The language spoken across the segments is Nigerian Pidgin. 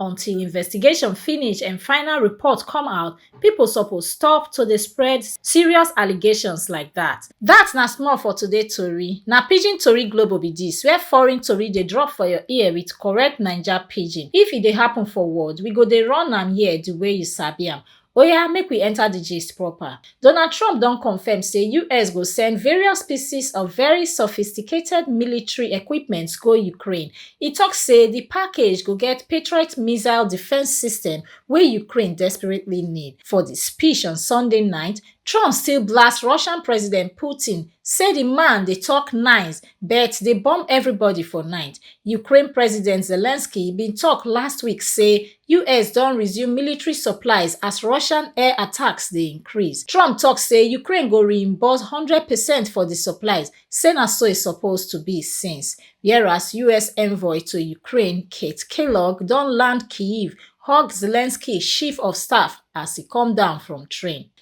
until investigation finish and final report come out, people suppose stop to dey spread serious allegations like that. That na small for today tori. Na Pidgin Tori Global be this, where foreign tori dey drop for your ear with correct Naija Pidgin. If e dey happen for world, we go dey run am here the way you sabi am. Oya make we enter the gist proper. Donald Trump don confirm say US go send various pieces of very sophisticated military equipment go Ukraine. E talk say the package go get Patriot missile defense system wey Ukraine desperately need. For the speech on Sunday night, Trump still blast Russian President Putin, say the man dey talk nice but dey bomb everybody for night. Ukraine President Zelensky bin talk last week say us don resume military supplies as russian air attacks dey increase trump tok say ukraine go reimburse one hundred percent for di supplies say na so e suppose to be since whereas us envoy to ukraine kate kellogg don land kyiv hug zelensky chief of staff as e come down from train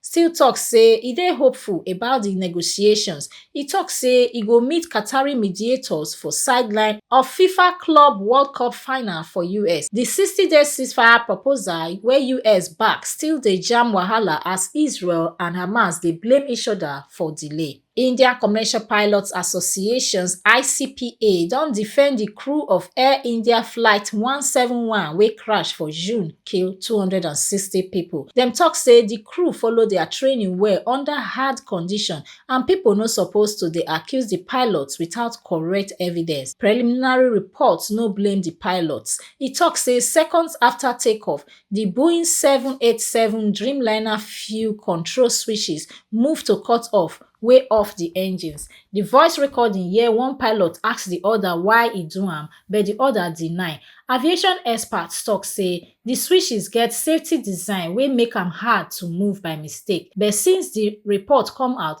still tok say e dey hopeful about di negotiations e tok say e go meet qatari mediators for sideline of fifa club world cup final for us di 60day ceasefire proposal wey us back still dey jam wahala as israel and hamas dey blame each oda for delay india commercial pilots association icpa don defend di crew of air india flight 171 wey crash for june kill 260 pipo dem tok say di crew follow dia training well under hard condition and pipo no suppose to dey accuse di pilots without correct evidence preliminary reports no blame di pilots e tok say seconds afta takeoff di boeing seven eight seven dreamliner fuel control switches move to cut off wey off di engines di voice recording hear one pilot ask di oda why e do am but di oda deny aviation experts tok say di switches get safety design wey make am hard to move by mistake but since di report come out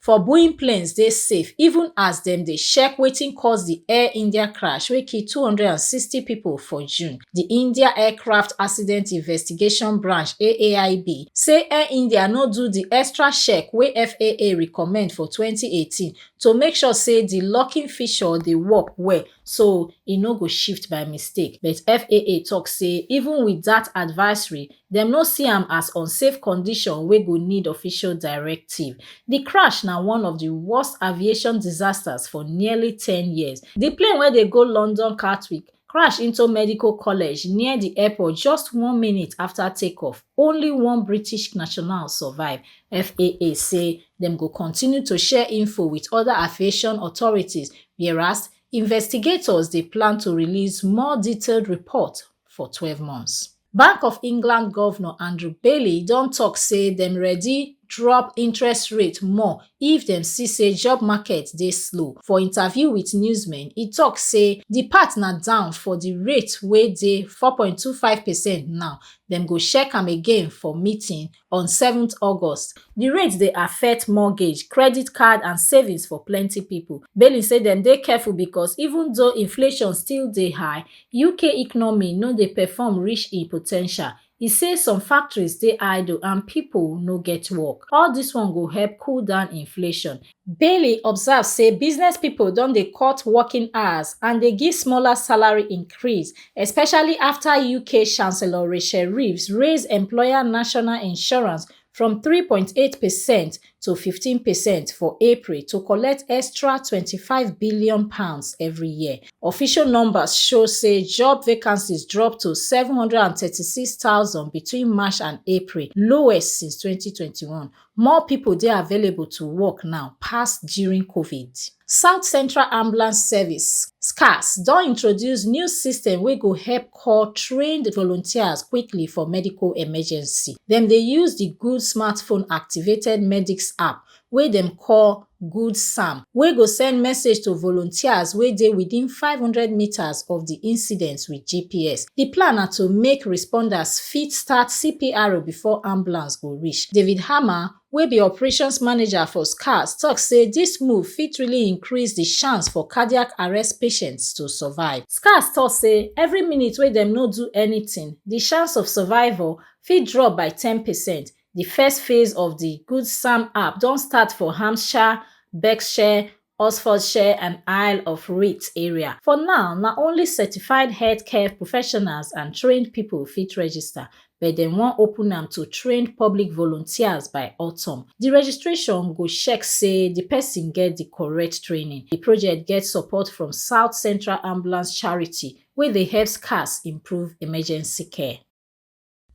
for boeing planes dey safe even as dem dey check wetin cause di air india crash wey kill 260 pipo for june di india aircraft accident investigation branch aaib say air india no do di extra check wey faa recommend for 2018 to make sure say di locking feature dey work well so e no go shift by mistake but faa tok say even wit dat advisory dem no see am as unsafe condition wey go need official directive di crash na one of di worst aviation disasters for nearly ten years di plane wey dey go london gatwick crash into medical college near di airport just one minute afta takeoff only one british national survive faa say dem go continue to share info wit oda aviation authorities whereas investigators dey plan to release more detailed report for 12 months. Bank of England Governor Andrew Bailey don talk say dem ready drop interest rate more if dem see say job market dey slow. For interview with newsmen, e talk say the part na down for the rate wey dey 4.25 percent now, dem go check am again for meeting on seven august di rate dey affect mortgage credit card and savings for plenti pipo bailey say dem dey careful becos even though inflation still dey high uk economy no dey perform reach e po ten tial e say some factories dey idle and pipo no get work all dis one go help cool down inflation bailey observe say business pipo don dey cut working hours and dey give smaller salary increase especially afta uk chancellor rachel reeves raise employer national insurance from 3.8 percent to 15 percent for april to collect extra£25billion every year official numbers show say job vacancies drop to 736000 between march and april lowest since 2021 More pipo dey available to work now pass during Covid. South Central Ambulance Service, SCAS, don introduce new system wey go help call trained volunteers quickly for medical emergency. Dem dey use di Good Smartphone activated Medics app wey dem call good sam wey go send message to volunteers wey dey within five hundred metres of di incident wit gps di plan na to make responders fit start cpr before ambulance go reach david hamer wey be operations manager for scars tok say dis move fit really increase di chance for cardiac arrest patients to survive scars tok say every minute wey dem no do anytin di chance of survival fit drop by ten percent Di first phase of di Good Sam app don start for Hampshire, Berkshire, Oxfordshire and Isle of Wight area. For now, na only certified healthcare professionals and trained pipo fit register, but dem wan open am to trained public volunteers by autumn. Di registration go check say di pesin get di correct training. Di project get support from South Central Ambulance Charity, wey dey help SCAS improve emergency care.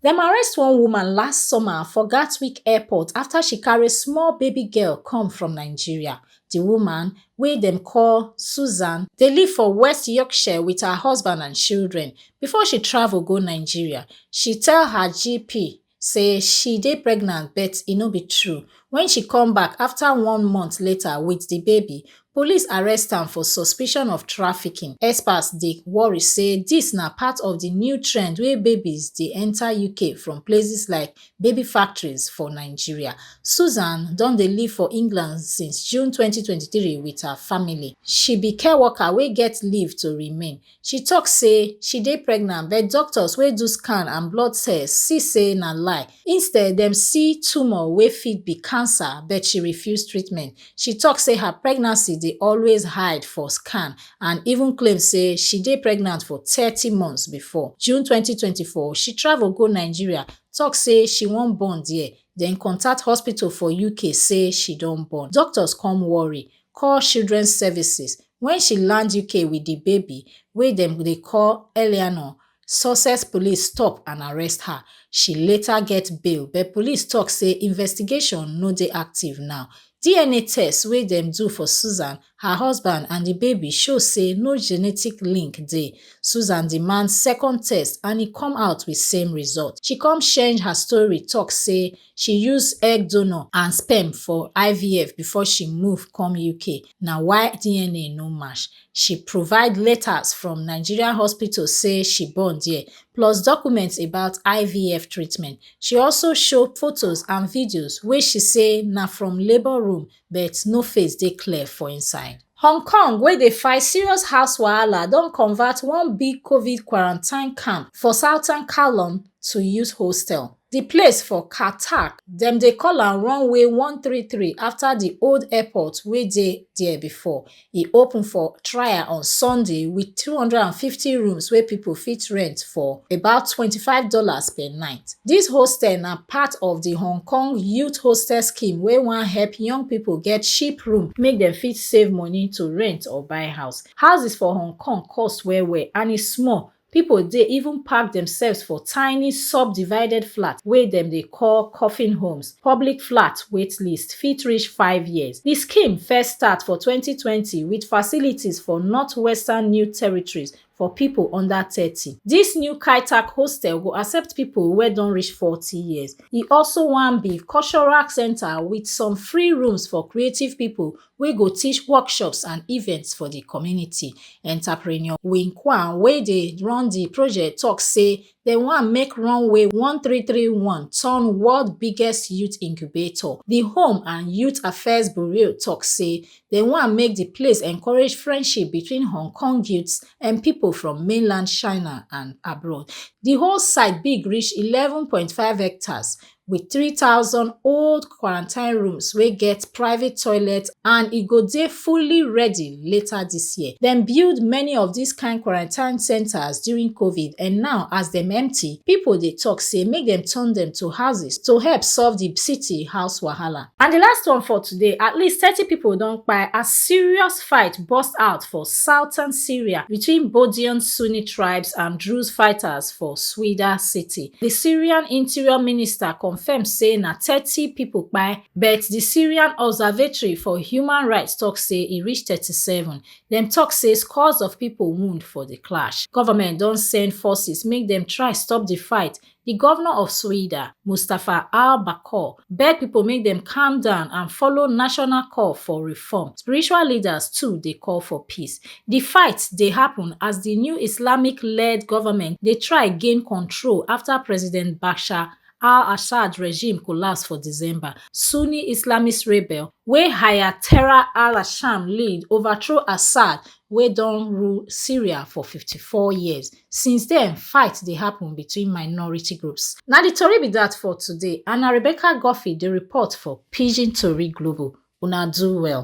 Dem arrest one woman last summer for Gatwick Airport after she carry small baby girl come from Nigeria. The woman, wey dem call Susan, dey live for West Yorkshire with her husband and children. Before she travel go Nigeria, she tell her GP say she dey pregnant but e no be true. When she come back after one month later with the baby, Police arrest am for suspicion of trafficking. Experts dey worry say dis na part of di new trend wey babies dey enta UK from places like baby factories for Nigeria. Susan don dey live for England since June twenty twenty three wit her family. She be care worker wey get leave to remain. she tok say she dey pregnant but doctors wey do scan and blood tests see say na lie instead dem see tumour wey fit be cancer but she refuse treatment she tok say her pregnancy dey always hide for scan and even claim say she dey pregnant for thirty months before june twenty twenty four she travel go nigeria tok say she wan born dia den contact hospital for uk say she don born doctors come worry call children services wen she land uk wit di baby wey dem dey call eleanor sussex police stop and arrest her she later get bail but police tok say investigation no dey active now dna test wey dem do for susan her husband and di baby show say no genetic link dey susan demand second test and e come out wit same result she come change her story tok say She use egg donor and sperm for IVF before she move come UK, na why DNA no match. She provide letters from Nigerian hospital say she born there, plus documents about IVF treatment. She also show photos and videos wey she say na from labour room but no face dey clear for inside. Hong Kong wey dey fight serious house wahala don convert one big Covid quarantine camp for southern Kowloon to youth hostel. Di place for Kah Tak, dem dey call am Runway one three three afta di old airport wey dey there before, E open for trial on Sunday with 250 rooms wey people fit rent for about $25 per night. This hostel na part of the Hong Kong Youth Hostel Scheme wey wan help young people get cheap room make dem fit save money to rent or buy house. Houses for Hong Kong cost well well and e small Pipo dey even pack demsefs for tiny subdivided flats wey dem dey call coffin homes, public flat waitlist fit reach five years. Di scheme first start for twenty twenty wit facilities for northwestern New Territories for pipo under thirty. Dis new Kai-Tak hostel go accept pipo wey don reach forty years. E also wan be cultural centre wit some free rooms for creative pipo wey go teach workshops and events for di community. Entrepreneur Wing Kwan wey dey run di project tok say dem wan make Runway one three three one turn world biggest youth incubator. Di Home and Youth Affairs Bureau tok say dem wan make di place encourage friendship between Hong Kong youths and pipo from mainland China and abroad. Di whole site big reach eleven point five hectares wit 3000 old quarantine rooms wey get private toilets and e go dey fully ready later dis year. Dem build many of dis kain quarantine centres during Covid and now as dem empty, pipo dey tok say make dem turn dem to houses to help solve di city house wahala. And di last one for today, at least thirty pipo don kpai as serious First fight burst out for southern Syria between Bodian Sunni tribes and Druze fighters for Swida city. The Syrian interior minister confirmed say na 30 people kpai, but the Syrian Observatory for Human Rights talk say e reach 37. Dem talk say scores of people wound for the clash. Government don send forces make dem try stop the fight, Di govnor of Soyida, Mustapha Al Bakour, beg pipo make dem calm down and follow national call for reform. Spiritual leaders too dey call for peace. Di fight dey happun as di new Islamic-led government dey try gain control afta President Bashar al-Assad regime collapse for December. Sunni Islamist rebel wey Hayatera al-Sham lead overthrow Assad wey don rule Syria for fifty four years. Since den, fight dey happun between minority groups. Na di tori be dat for today, and na Rebecca Guffey dey report for Pidgin Tori Global. Una do well.